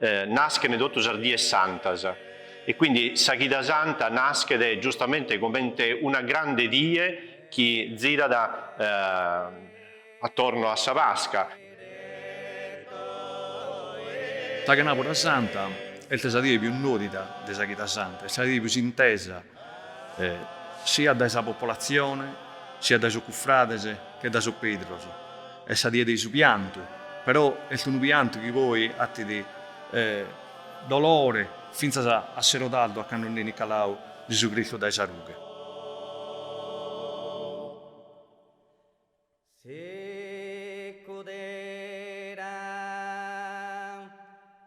Naschent totu sas dies santas e quindi sa chida santa naschet giustamente comente una grande die chi zirat attorno a sa Pasca. Sa chenàbura santa est sa die pius nodida de sa chida santa, est sa die pius intesa siat dae sa popolatzione, siat dae sos cufrades che dae sos predes, est sa die de su piantu, però est unu piantu chi poi batit dolore fintzas a sero tardu a cando nd'enit caladu Gesù Cristu dae sa rughe. Si cuderan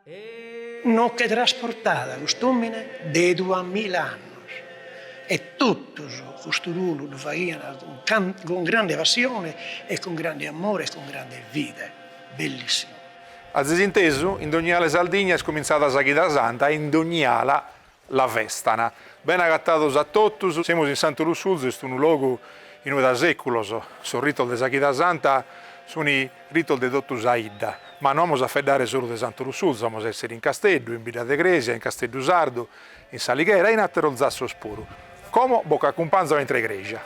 e. Nos che trasportat cust'omine de dua mila annos e tottus custu ruolu ddu faghian cun grande passione e cun grande ammore e cun grande fide. Bellissimu. Azis intesu? In dogni ala 'e Sardigna est comintzada sa Chida Santa e in dogni ala La festan. Bene agatados a totus. Semus in Santu Lussurzu, est unu logu inue da seculos sos ritos de sa Chida Santa sun ritos de totu sa 'idda, ma no amos a faeddare solu de Santu Lussurzu, amos a essere in Casteddu, in Bidda de Cresia, in Casteddu Sardu, in S'Alighera e in ateros zassos puru. Como bos acumpanzo intre cresia.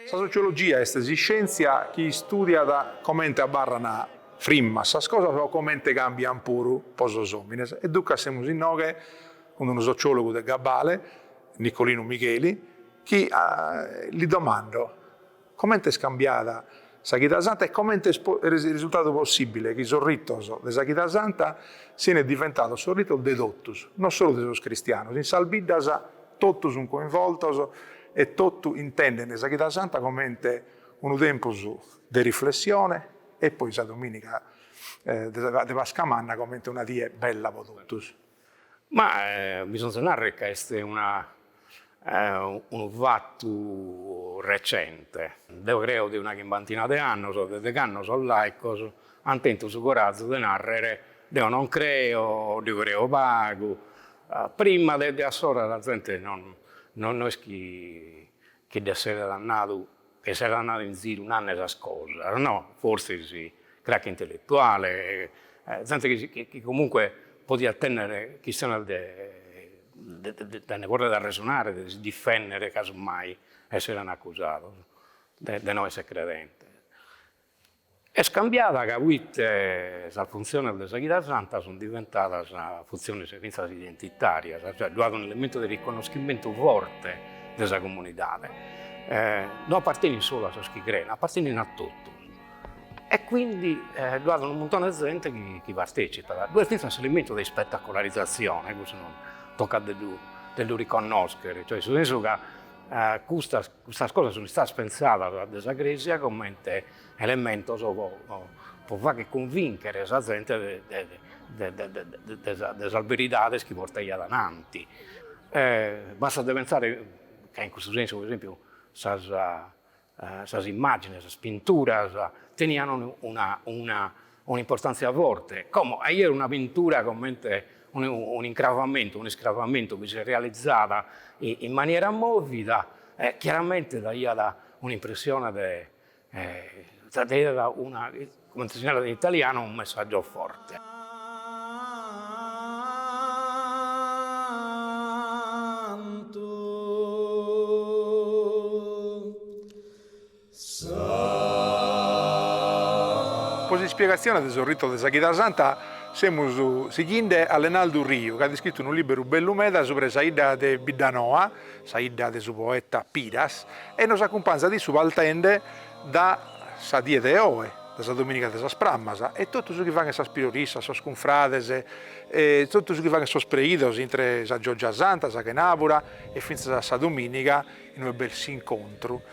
Sa sociologia est s'iscèntzia chi istùdiat comente abarran frimmas sas cosas o comente càmbian puru pro sos òmines. E duncas semus inoghe cun unu sociòlogu de gabbale, Nicolinu Migheli, chi li domando, Comente est cambiada sa Chida Santa e comente est risultadu possìbile chi sos ritos de sa Chida Santa siene diventados sos ritos de totus, no solu de sos cristianos. In sas biddas totu sunt coinvoltos e totu intendent sa Chida Santa comente unu tempus de riflessione e poi sa domìniga de Pascamanna comente una die bella pro totus. Ma bisonzat narrer ca est una unu fattu recente, deo creo de una chimbantina de annos, de cando sos laicos ant tentu su corazu de narrer deo non creo, o deo creo pagu, prima de de assora sa zente no no est chi chi dd'esseret nadu Chi esseret andadu in ziru nande sas cosas no, forsis crache intelletuale, zente chi comunque podiat tennere chistione de de nde porrere arresonare, de si difennere casu mai esseren acusados de no essere credentes. Est cambiada ca poite sas funtziones de sa Chida Santa sunt diventadas funtziones fintzas identitàrias, cioè ddu at un'elementu de riconoschimentu forte de sa comunidade, non apartenit solu a sos chi creen, apartenit a totu e quindi ddu at unu muntone de zente chi partecipat, ddu' est fintzas s'elementu de ispettacolarizazione, custu toccat de ddu riconnoschere, cioè in su sensu ca custas Custas cosas sunt istadas pentzadas dae sa Crèsia comente elementos pro fagher cunvìnchere sa zente de sas beridades chi portaiat ananti. Bastat de pentzare ca in custu sensu, pro esempiu, sas sas immàgines, sas pinturas tenian una un'importàntzia forte, como 'ìer una pintura comente un'incravamentu, un'iscravamentu chi si realizat in maniera mòvida, chiaramente daiat un'impressione de daiat una, comente si narat in italianu, un messaggio forte. Po s'ispiegatzione de sos ritos de sa Chida Santa semus sighinde a Lenaldu Riu, ch'at iscritu unu lìberu bellu meda subra 'e sa 'idda de Biddanoa, sa 'idda de su poeta Piras, e nos acumpanzat issu partende da sa die de oe, de sa domìniga de sas Prammas, e totu su chi faghent sas priorissas, sos cunfrades, e totu su chi faghent sos preidos intre sa Giògia Santa, sa chenàbura e fintza a sa domìniga inue b'est s'incontru.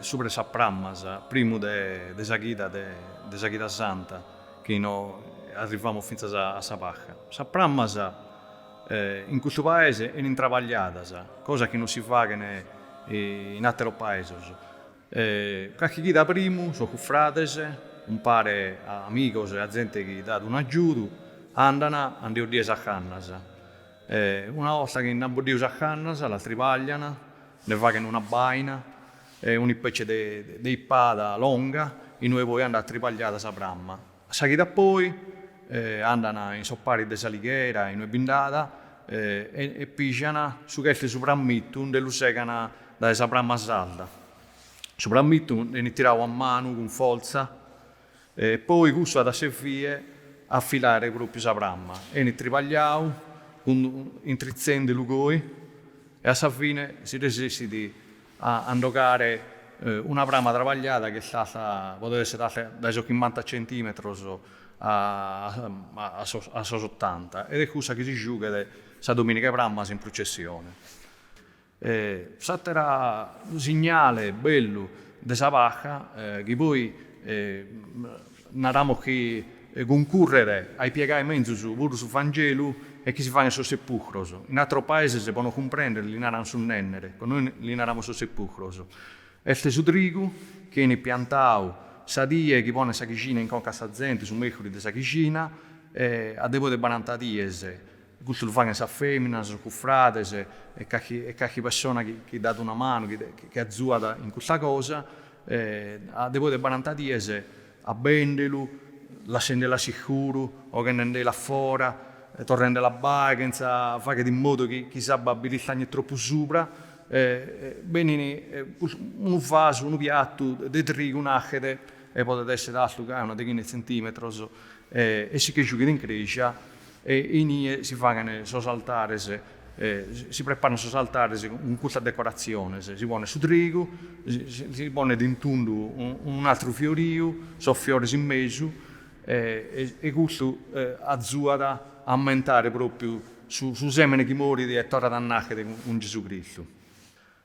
subra 'e sas prammas, primu de sa chida de sa chida santa, chi no arrivamus fintza a sa Pasca. Sas prammas in custu paese 'enint trabagliadas, cosa chi no si faghen in ateros paesos. Carchi chida primu sos cufrades, umpare a amigos e a zente chi dat un'agiudu, andan a nde 'oddire sas cannas. E una 'orta chi nd'ant boddiu sas cannas, las tribaglian, nde faghen una baina e un'ispetzie de de ispada longa inue poi andat tribagliada sa pramma. A sa chida poi andan in sos paris de s'Alighera inue bi nd'at e e pijan su ch'est de su prammitu, nde lu segan dae sa pramma sarda. Su prammitu nde 'enit tirau a manu cun fortza E poi cussu at a servire a filare propriu sa pramma. Enit tribagliau cun intritzende·lu goi e a sa fine si resessit a nde 'ogare una pramma trabagliada ch'est alta, podet esser alta dae sos chimbanta centimetros a a sos ottanta ed est cussa chi si giughet sa dominiga 'e prammas in prucessione. E s'àteru signale bellu de sa Pasca, chi poi naramus chi cuncurret a ipiegai menzus puru su Vangelu, est chi si faint sos sepùcros. In àteros paeses, po nos cumprèndere, li narant su nènnere, po nois li naramus sos sepùcros. Est su trigu chi benit piantau sa die chi ponent sa chixina in conca a sa zente, su mècuris de sa chixina, e a de poi de baranta dies. Custu lu faghen sas fèminas, sos cufrades e calchi e calchi pessona chi chi dat una manu, chi de chi azuat in custa cosa e a de poi de baranta dies abbèndelu, lassendelu a s'iscuru, 'oghendendelu a fora, torrendelu a abbare chentza fagher in modu chi chi s'abba b'istagnet tropu subra e e bennin cus unu vasu, unu piattu de trigu nachet e podet esser altu gai una deghina 'e tzentimetros e e si che juchet in creja E inie si faghen sos altares, si preparan sos altares cun custas decoratziones, si ponet su trigu, si ponet in tundu un'atru fioriu, sos fiores in mesu e custu azuat a ammentare propriu su sèmene chi morit e torrat a nàchere cun Gesù Cristu.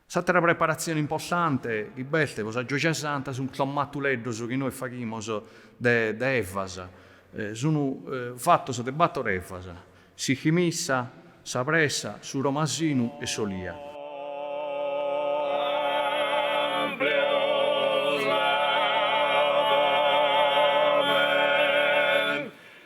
S'àtera preparatzione importante chi b'est pro sa Gioja Santa sunt sos matuleddos chi nois faghimus de de evas. Sunt fatos de bator evas, s'archimissa, sa pressa, su romasinu e s'olia.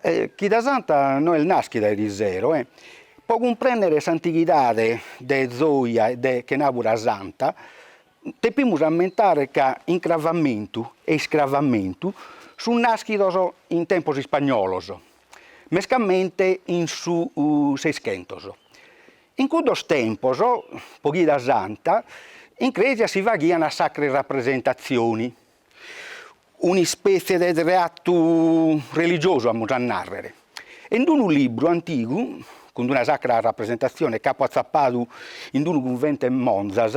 E chida santa no est naschida erisero e, po cumprennere s'antighidade de Zoia e de Chenabura Santa, depimus ammentare ca incravamentu e iscravamentu sunt naschidos in tempos ispagnolos, mescamente in su Seischentos. In cuddos tempos, po chida santa, in crèsia si faghian sacre rappresentazioni, un'ispètzie de treatu religiosu, amus a nàrrere, e in unu libru antigu, cun una sacra rapresentatzione chi apo atzapadu in unu cunventu 'e Monzas,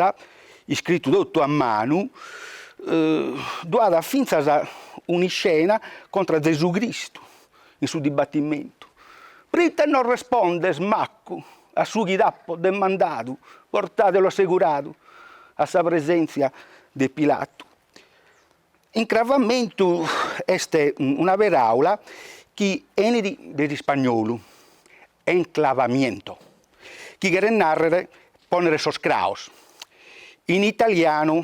iscritu totu a manu, ddu at fintzas un'iscena contra Zesu Cristu, in su dibatimentu, prite no respondes maccu a su chi t'apo demandadu, portadelo asseguradu a sa presenzia de Pilatu. Incravamentu est una peraula chi 'enit de s'ispagnolu enclavamiento, chi cheret narrer ponner sos craos, in italianu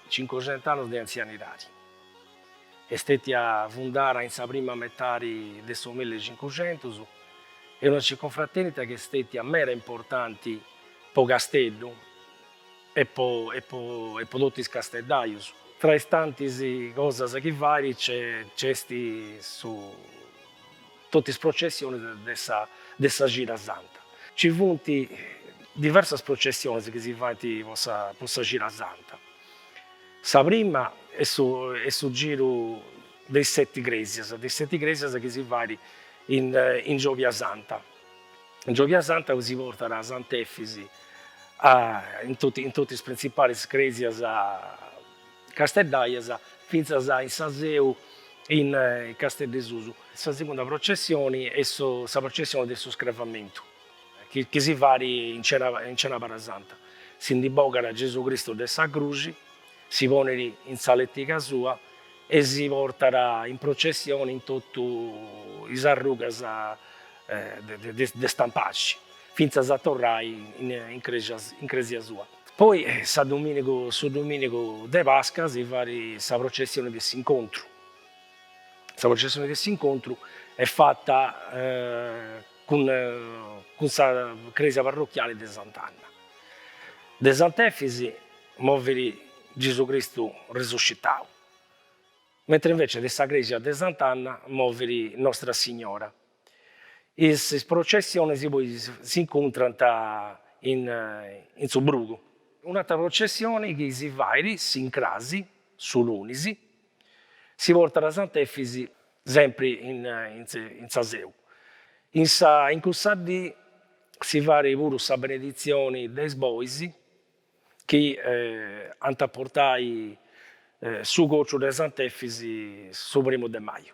Cincuxent'annos de antzianidadi. Est stètia fundada in sa prima metadi de su milli e cincuxentus, est una circunfratènita chi est stètia meda importanti po Casteddu e po e po e po totus is casteddajus. Tra is tantis cosas chi fait nc'est su. Totu is processionis de sa Cida Santa. Ci funt diversas processionis chi si faint po sa Cida Santa. Sa prima est su giru de is seti cresias, de is seti cresias chi si fait in Giovia Santa. In Giovia Santa si portat Sant'Efisi in totu is prinzipalis cresias Casteddaias fintzas in sa seu in Casteddesusu. Sa segunda processioni est sa processioni de su Scravamentu chi si fait in cena in cenàbara santa. Si ndi bogat Gesù Cristu de sa Cruxi, si ponet in sa lètiga sua e si portat in processioni in totu is arrugas de de de Stampaxi fintzas a torrai in in crexia in crèsia sua. Poi sa dominigu su dominigu de pasca si fait sa processioni de s'incontru sa processioni de s'incontru est fatta cun cun sa cresia parrocchiali de sant'anna de sant'efis movit Gesù Cristu resuscitau mentre invece de sa cresia de sant'anna movit nostra signora Is processionis poi s'incuntrant in su brugu. Un'atra processione chi si fait s'incrasi, su lunis, si portat a Sant'Efis sempri in sa seu. In sa in cussa dì si fait puru sa beneditzioni de is bois chi ant a portai su cociu de Sant'Efis su primu de maju.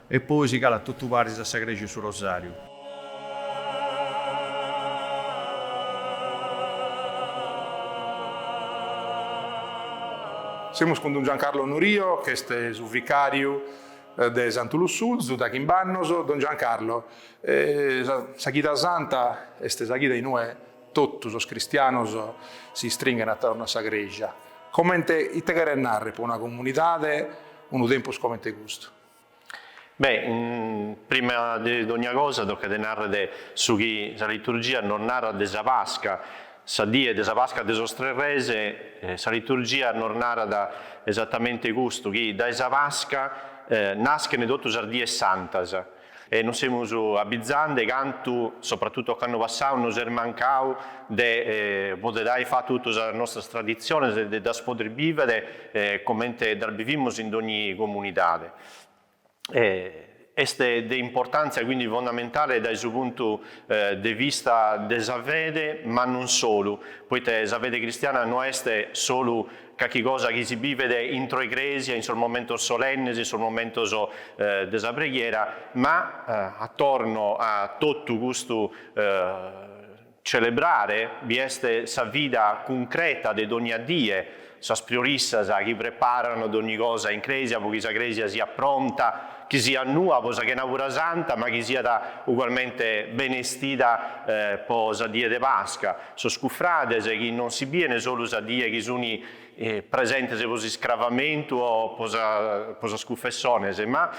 E poi si calat totu paris a sa crexi 'e su Rosàriu. Semus cun don Giancarlo Nurio, ch'est su vicàriu de Santu Lussurzu, dae chimbannos. Don Giancarlo, sa chida santa est sa chida in ue totu sos cristianos si istringhen atorno a sa crèxia. Comente ite cheret nàrrere pro una comunidade unu tempus comente custu? Beh, prima de dogna cosa tocat de narrer de su chi sa liturgia nos narat de sa Pasca, sa die de sa Pasca de sos tres res, sa liturgia nos narat esatamente custu, chi dae sa Pasca naschen totu sas dies santas, e nos semus abizande cantu, sopratutu ocannu passau, nos est mancau de poder ai fatu totu sas nostras traditziones e de ddas poder bivere comente ddas bivimus in dogni comunidade. Est de importantzia quindi fondamentale dae su puntu de vista de sa fede, ma non solu, poite sa fede cristiana no est solu Carchi cosa chi si bivet intro 'e crèsia in sos momentos solennes, in sos momentos de sa preghiera, ma atorno a totu custu celebrare bi est sa vida cuncreta de dònnia die, sas priorissas chi preparan dònni cosa in crèsia pro chi sa crèsia siat pronta, chi siat nua pro sa chenabura santa, ma chi siat ugualmente benestida pro sa die de Pasca. Sos cufrades chi non si biene solu sa die chi suni presentes pro s'iscravamentu o pro sas cufessones, ma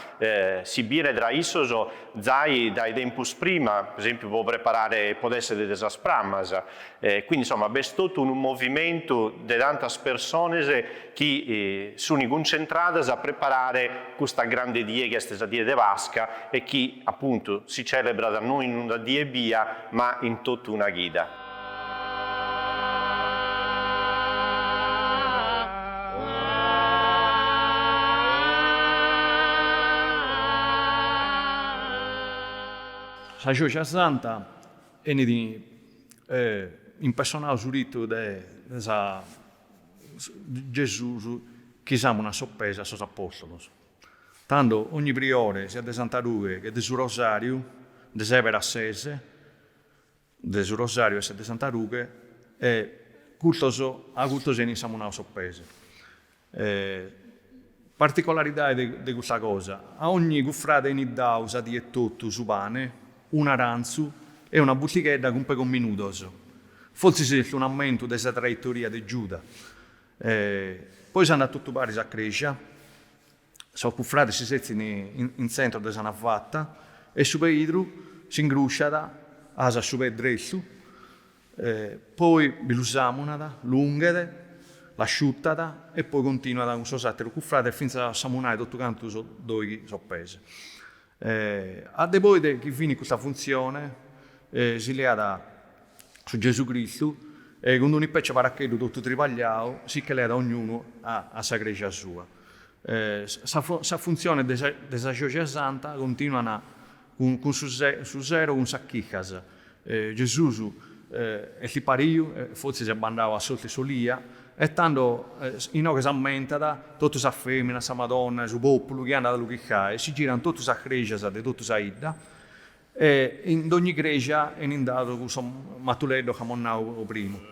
si biene tra issos zai dae tempus prima, pro esempiu pro preparare podet esser de sas prammas. Quindi insomma b'est totu unu movimentu de tantas persones chi suni cuntzentradas a preparare custa grande die chi est sa die de Pasca e chi, apuntu, si celebrat no in una die ebbia ma in totu una chida. Sa Gioja Santa enit impersonau su ritu de sa. Gesus chi samunat sos pees a sos apostolos. Tando ogni priore, siat de Santa Rughe che de su Rosariu, nde seberat ses de su Rosariu e ses de Santa Rughe, e custos, a custos enit samunau sos pees. Particolaridade de de custa cosa, a ogni cufrade enit dau sa die etotu su pane, un'arantzu e una buttighedda cun pegos minudos. Fortzis est un ammentu de sa traitoria de Giuda. Poi s'andat totu paris a crèsia, sos cufrades si setzin in tzentro de sa navata e su peidru s'ingrusciat, asat su pee drestu E poi bi lu samunat, lu unghet, l'asciutat e poi continuat cun sos àteros cufrades fintzas a samunai totu cantu sos doghi sos pees. E a de poi de chi finit custa funtzione si leat su Gesù Cristu e cun un'ispècia 'e paracheddu totu tribagliau si che leat ognunu a sa crèxia sua. E sas funtziones de sa Gioja Santa continuant Cun su sero cun sas chicas. Gesùs est ispariu e fortzis est bandau a s'ortu 'e s'olia e tando inoghe s'ammentat totu sas feminas, sa Madonna e su populu chi andat a lu chicai, si giran totu sas crexas de totu sa 'idda e in dogni crexia 'enit dadu cussu matuleddu chi amus nau primu.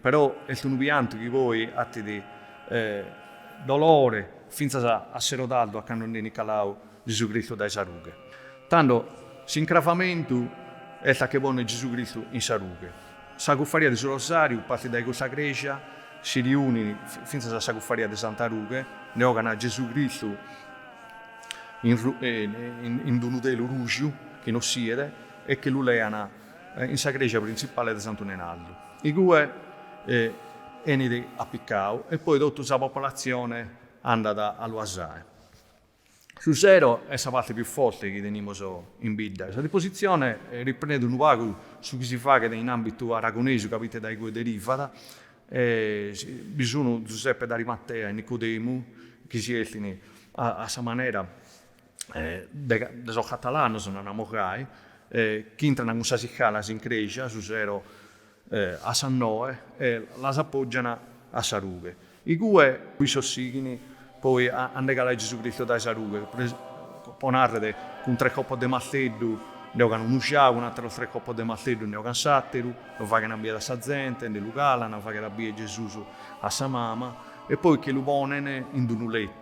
Però est unu piantu chi poi atit dolore fintzas a sero tardu a cando nd'enit calau Gesù Cristu dae sa rughe. Tando s'incravamentu est a che ponner Gesù Cristu in sa rughe. Sa cuffaria de su Rosàriu partit dae custa crèxia, si riunit fintzas a sa cuffaria de Santa Rughe, nde ogan a Gesù Cristu in d'unu telu ruju chi no si 'iet e che lu lean in sa crèxia printzipale de Santu Nenaldu, igue enit apicau e poi totu sa popolatzione andat a lu asai. Su sero est sa parte pius forte chi tenimus in bidda. Sa dipositzione riprendet unu pagu su chi si faghet in ambitu aragonesu ca proite da igue derivat, bi sunu Zuseppe D'Arimatea e Nicodemu chi si 'eltint a sa manera de sos catalanos, naramus gai, chi intrana cun sas iscalas in Crèxia, su sero a sas noe, e las apògiana a sa rughe. Igue issos sighint poi a nde calai Gesù Cristu dae sa rughe, po nàrrere, cun tres copos de marteddu nde ogant unu giau, cun àteros tres copos de marteddu nde ogant s'àteru, lu faghent a bier a sa zente, nde lu calan, faghet a bier Gesùs a sa mama, e poi che lu ponent in d'unu letu.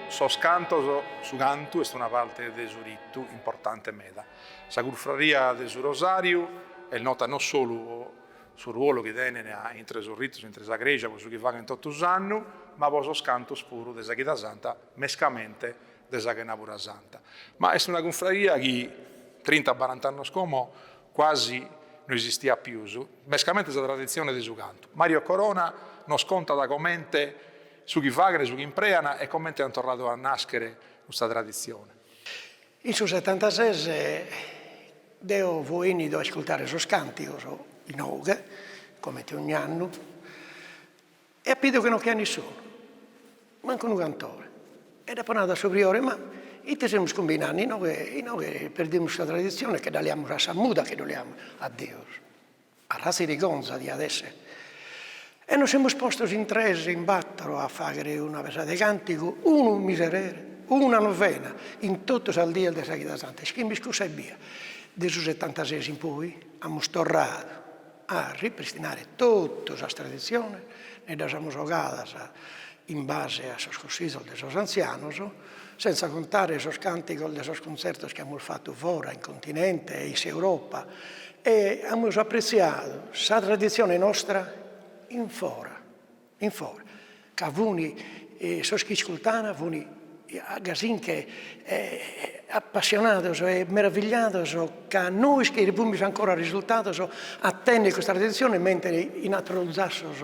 Sos cantos Su cantu est una parte de su ritu importante meda. Sa Cunfraria de su Rosàriu est nota no solu po su ruolu chi tenent intre sos ritos, intre sa crèsia, po su chi faghent totu s'annu, ma po sos cantos puru de sa chida santa, mescamente de sa chenàpura santa. Ma est una Cunfraria chi trinta barant'annos como quasi no esistiat pius, mescamente sa traditzione de su cantu. Mario Corona nos contat comente Su chi faghen, su chi imprean e comente an torradu a nàschere custa traditzione. In su setantases deo fùo 'ènnidu a iscurtare sos càntigos inoghe, comente ogn'annu, e apo 'idu chi non ch'aiat nissunu, mancu unu cantore. E dd'apo nadu a su priore, ma ite semus cumbinande, inoghe inoghe perdimus sa traditzione e che dda leamus a sa muda, che ddu leamus a Deus. Arratza 'e 'irgonza diat esser. E nos semus postos in tres, in battoro, a faghere una pesada 'e cantigu, unu miserere, una novena, in totu sas dies de sa chida santa. Ischimis cussa ebbia. De su setantaseis in poi amus torradu a ripristinare totu sas traditziones, nde ddas amus ogadas in base a sos cussizos de sos antzianos, Senza contare sos cantigos de sos cuntzertos chi amus fatu fora in continente e in s'Europa e amus apretziadu sa traditzione nostra in fora, in fora, ca fun sos chi iscurtana fun gasi nche appassionados e meravigliados ca nois chi semus ancora risultados a tenner custa traditzione mentre in ateros zassos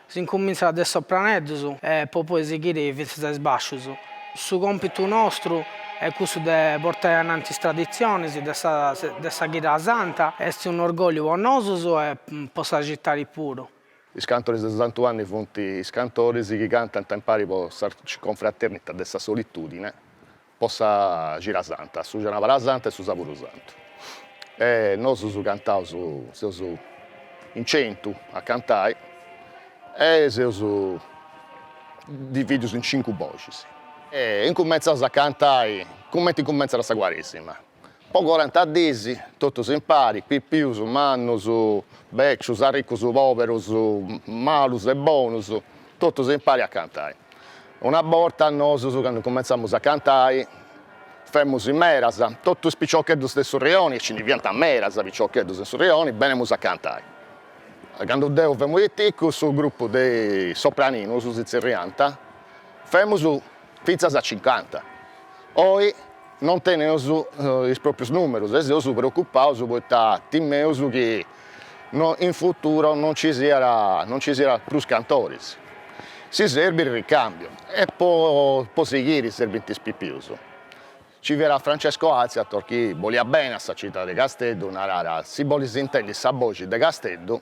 S'incumintzat de sopraneddus e po poi sighiri fintzas a is bascius. Su còmpitu nostru est cussu de portai a innantis is traditzionis de sa de sa cida santa, est un'orgògliu po nosus e po sa citadi puru. Is cantoris de Santu Anni funt is cantoris chi cantant impari po sa Arciconfraternita de sa solitùdine, po sa Cira Santa, sa Cenàbara Santa e su Saburu Santu e nosus cantaus, seus in centu a cantai e seus divìdius in cincu boxis e incummentzaus a cantai comenti incummentzat sa Cuaresima Po coranta diis totus impari, pipius, mannus, bècius, arricus, pòberus, malus e bonus, totus impari a cantai. Una borta nosus cando incumentzamus a cantai femus in meras, totu is piciocheddus de su rioni e nci ndi fiant medas piciocheddus in su rioni, benemus a cantai. Cando deu femu piticu su grupu de sopraninus si zerriant, femus fintzas a cincanta, oi non teneus is pròprius nùmerus e seus preocupaus poita timeus chi in futuro non nci siat non nci siat prus cantoris, si serbit ricàmbiu e po po sighiri serbint is pipius, nci fiat Francesco Alziator chi boliat beni a sa citadi de Casteddu, naràt, si bolis intendi sa boxi de Casteddu,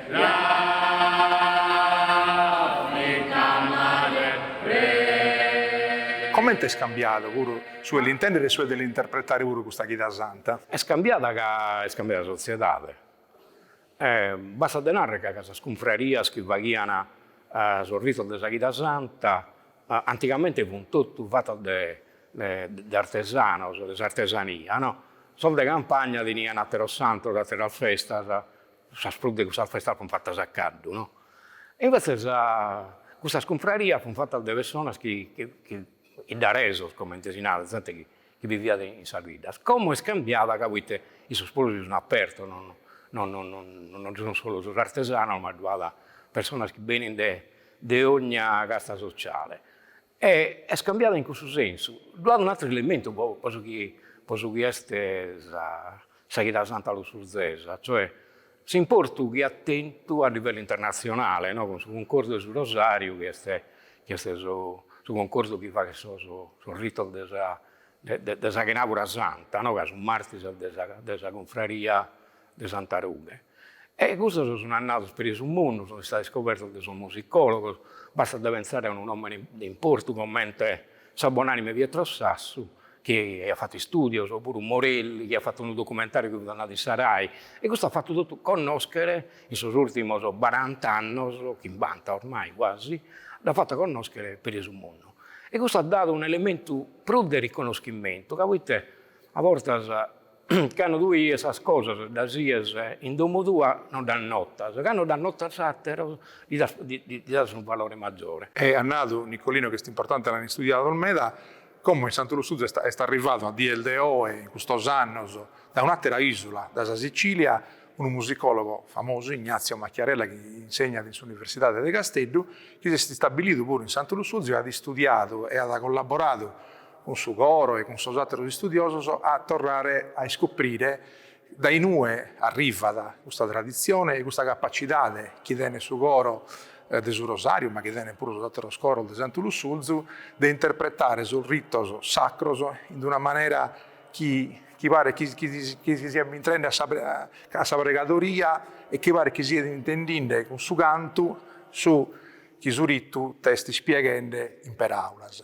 Comente est cambiadu puru su 'e l'intèndere e su 'e l'interpretare puru custa chida santa? Est cambiada ca est cambiada sa sotziedade. Bastat de narrer ca sas cunfrarias chi faghian sos ritos de sa chida santa antigamente fun totu fatas de de artesanos, de s'artesania no. Sos de campagna tenian ateros santos, ateras festas. sas prus de cussas festas fun fatas a caddu, no. E invetzes custas cunfrarias fun fatas de personas chi iddaresos, comente si narat, zente chi biviat in sas biddas. Como est cambiada ca proite issos puru si sun apertos, non sun solu sos artesanos, ma ddu at personas chi benin de ogna casta sociale. E est cambiada in cussu sensu. Ddu at un'àteru elementu po po su chi po su chi est sa sa chida santa lussurzesa, cioè s'importu chi at tentu a livellu internatzionale, no, cun su cuncordu 'e su Rosariu chi est chi est su su cuncordu chi faghet sos sos ritos de sa de de sa chenàbura santa, no, ca su martis est de sa de sa cunfraria de Santa Rughe. E custos sun andados peri su mundu, sun istados iscobertos de sos musicòlogos, bastat de pensare a unu nòmene de importu comente sa bonànime Pietro Sassu, chi aiat fatu istùdios, o puru Morelli, chi at fatu unu documentàriu chi fut andadu in sa Rai, e custu at fatu totu connòschere in sos ùrtimos barant'annos, chimbanta oramai guasi, l'at fatu connòschere peri su mundu. E custu at dadu un'elementu prus de riconoschimentu ca proite a bortas Cando tue ies sas cosas ddas ies in domo tua no ddas notas, cando ddas notan ateros ddi das unu valore maggiore. E at nadu Nicolino chi est importante a l'an istudiados meda, como in Santu Lussurzu est arrivadu a dies de oe, in custos annos, da un'atera isula, da sa Sicilia, unu musicologo famosu, Ignazio Macchiarella, chi insegnat in s'Universidade de Casteddu, chi s'est istabilidu puru in Santu Lussurzu e at istudiadu e at collaboradu cun su coro e cun sos àteros istudiosos, a torrare a iscuprire dae inue arrivat custa traditzione e custa capacidade chi tenet su coro de su Rosàriu, ma chi tenent puru sos àteros coros de Santu Lussurzu, de interpretare sos ritos sacros in d'una manera chi chi paret chi chi chi si siat bintrende a sa a sa pregadoria e chi paret chi siat intendinde cun su cantu su chi su ritu t'est ispieghende in peràulas.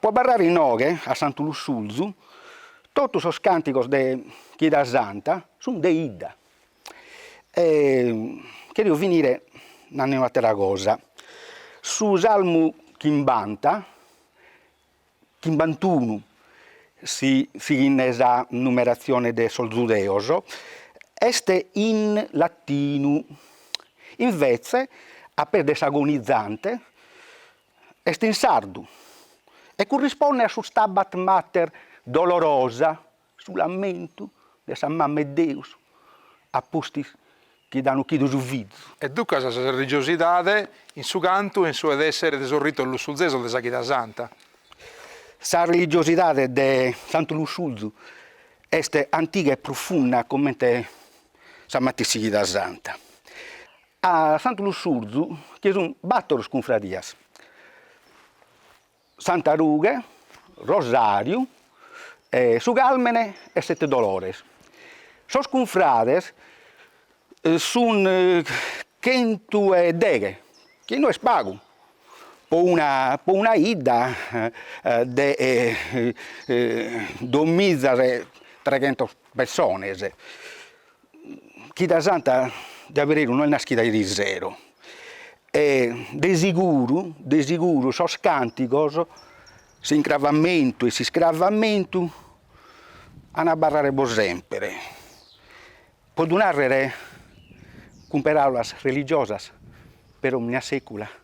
Po abarrare inoghe a Santu Lussurzu totu sos càntigos de chida santa sun de 'idda. E cherio finire nande un'attera cosa, su salmu chimbanta, chimbantunu si sighinde sa numeratzione de sos zudeos, est in latinu, inveze a pes de s'Agonizante Est in sardu e currisponnet a su Stabat Mater dolorosa, su lamentu de sa Mama 'e Deus a pustis chi dd'an ochidu su fizu. E duncas sa religiosidade in su cantu e in su 'e dèssere de sos ritos lussurzesos de sa chida santa. Sa religiosidade de Santu Lussurzu est antiga e prufunda comente sa matessi chida santa. A Santu Lussurzu chi sun battoro cunfradias, Santa Rughe, Rosariu, Su Carmene e Sette Dolores. Sos cunfrades sun chentu e deghe, chi no est pagu po po una 'idda de duamizas e treghentos pessones. Chida Santa de abberu no est naschida irisero e de seguru de seguru sos cantigos, s'incravamentu e s'iscravamentu an a abarrare pro sempre, po ddu narrer cun peraulas religiosas per omnia secula.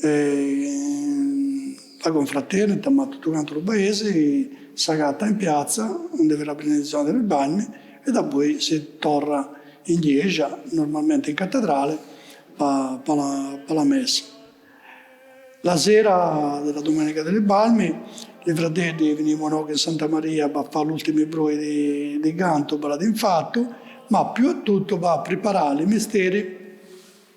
E la Confraternita, ma tuttu cantu lu paesi, s'agatta in piatza, undi fi la binidizioni di li Palmi, e dapoi si torra in jexa, normalmenti in Catedrali, pa pa la messa. La sera de la Domenica di li Palmi, li fradeddi vinimu inogu in Santa Maria pa fa l'ultimi broi di di cantu, pa la dì infattu, ma più a tuttu pa priparà li misteri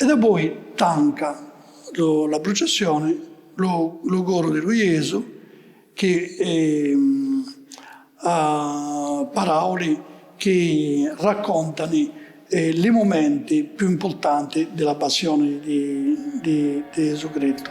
E dapoi tanca la prucessioni lu coru di lu Jesu chi à parauli chi raccontani li mumenti più importanti di la passioni di Jesu Cristu.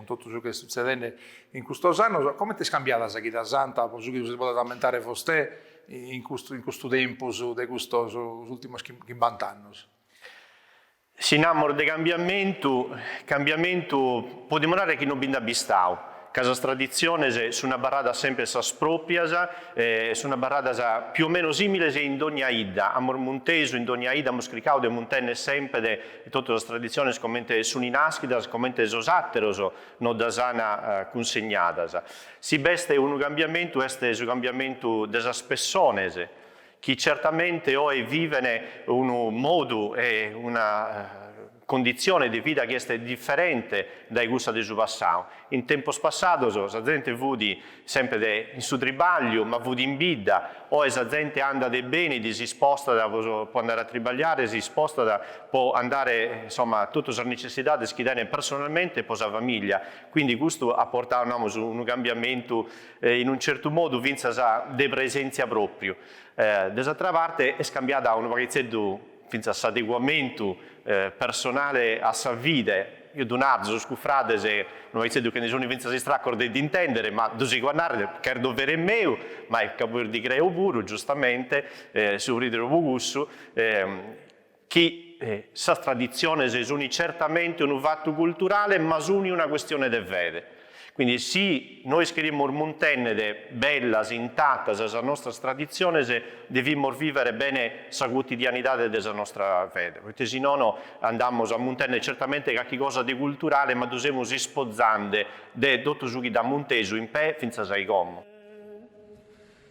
cun totu su chi est sutzedende in custos annos, comente est cambiada sa chida santa, po su chi si podet ammentare vostè in custu in custu tempus de custos ultimos chimbanta annos? Si namus de cambiamentu, cambiamentu podimus narrer chi non bi nd'at bistadu, ca sas traditziones sun abarradas semper sas pròpias, sun abarradas più o meno similes in dònnia 'idda, amus muntesu in dònnia 'idda, amus cricadu de muntenner semper e totu sas traditziones comente sun nàschidas, comente sos àteros nos ddas ant cunsegnadas. Si b'est unu cambiamentu est su cambiamentu de sas pessones chi certamente oe viven unu modu e una conditzione de vida chi est diferente dae cussa de su passadu. In tempos passados sa zente fut Semper in su tribagliu, ma fut in bidda, oe sa zente andat e benit, si spostat po andare a tribagliare, si spostat po andare, insomma, a totu sas necessidades chi tenet personalmente e po sa famiglia, quindi custu at portadu, namus, unu cambiamentu, in un certu modu fintzas de presentzia propriu. Dae s'àtera parte est cambiada unu paghitzeddu. fintzas s'adeguamentu personale a sa fide, eo ddu naro, sos cufrades un'aitzeddu che ndi suni fintzas istracos de ddi intèndere, ma ddu sigo a nàrrere, ch'est dovere meu, ma est ca puru ddi creo puru, giustamente, so prìderu pro cussu, chi sas traditziones suni certamente unu fatu culturale, ma suni una custione de fede. Quindi si nois cherimus muntennere bellas, intatas sas nostras traditziones devimus vivere bene sa cuotidianidade de sa nostra fede, poite si nono andamus a muntennere certamente carchi cosa de culturale ma ddu semus ispozande de totu su chi dd'at muntesu in pè fintzas a i como.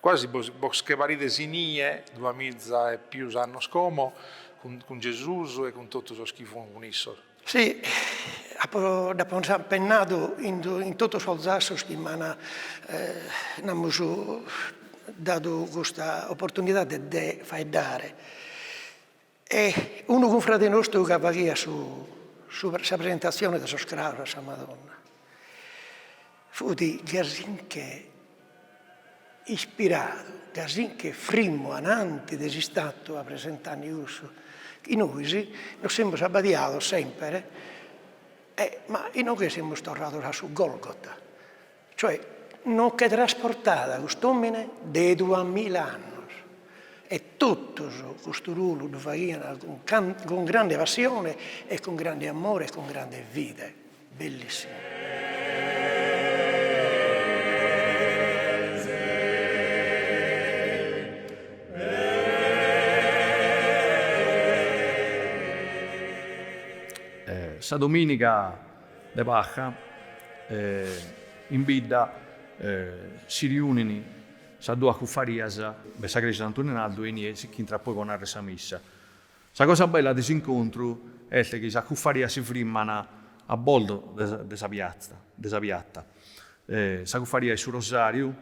Quasi bos che parides inie, dua miza e pius annos como, cun Gesusu e cun totu sos chi fuant cun issos. Si, apo, nd'apo pennadu in totu sos zassos chi m'an, namus, dadu custa oportunidade de faeddare. E unu cunfrade nostru ca faghiat su su sa presentatzione de sos craos a sa Madonna fut gasinche ispiradu, gasinche frimmu ananti de s'istatua presentanni cussu, chi nois nos semus abbadiados semper e ma inoghe semus torrados a su Golgota Cioè, nos che trasportàt cust'òmine de duas mila annos. E totus custu ruolu ddu faghiant cun cun grande passione e cun grande amore e cun grande fide. Bellissimu. Sa domìniga de Pasca in bidda si riunini sas duas cuffarias de sa Creja Santu Nenaldu e inie si ch'intrat poi po narrer sa missa. Sa cosa bella de s'incontru est chi sas cuffarias si frimman a bordo de sa piazza, de sa piatta. Sa cuffaria 'e su Rosariu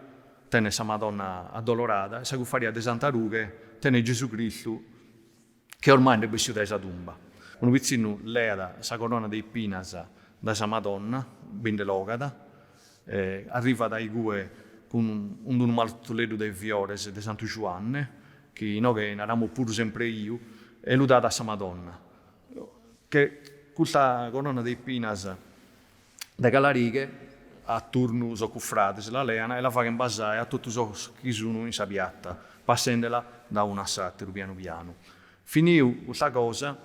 tenet sa Madonna Addolorada e sa cuffaria de Santa Rughe tenet Gesù Cristu. Che ormai nd'est bessiu dae sa tumba. Unu pitzinnu leat sa corona de ipinas dae sa Madonna, bi nde l'ogat, arrivat a igue cun unu martuleddu de fiores de Santu Juanne, chi inoghe naramus puru sempreiu, e lu dat a sa Madonna. Che custa corona de ipinas de calarighe a turnu sos cuffrades la lean e la faghen basare a totu sos chi sunu in sa piatta, passendela da unu a s'ateru pianu pianu. Finiu custa cosa,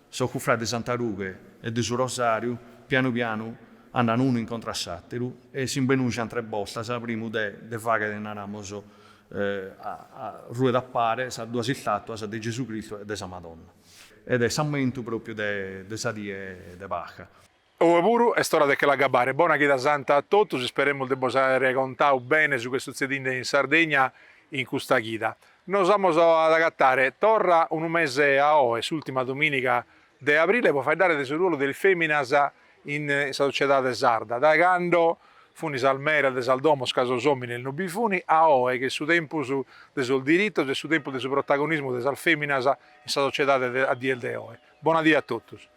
sos cuffrades de Santa Rughe e de su Rosariu pianu pianu andan unu in contra a s'ateru e si imbenujan tres bortas primu de de faghere, naramos, arruedappare sas duas istatuas de Gesù Cristu e de sa Madonna. Ed est s'ammentu propriu de sa die de Pasca. Oe puru est ora de che l'agabbare. Bona chida santa a totus, isperemus de bos àere contau bene su ch'est sutzedinde in Sardegna in custa chida. Nos amus a agatare torra unu mese a oe, s'ùrtima domìniga de abrile, po faeddare de su ruolu de is fèminas in sa sociedade sarda. Dae cando funt sas meras de sas domos ca sos òmines no bi funt, a oe ch'est su tempus de sos diritos, est su tempus de su protagonismu de sas fèminas in sa sociedade a dies de oe. Bona die a totus.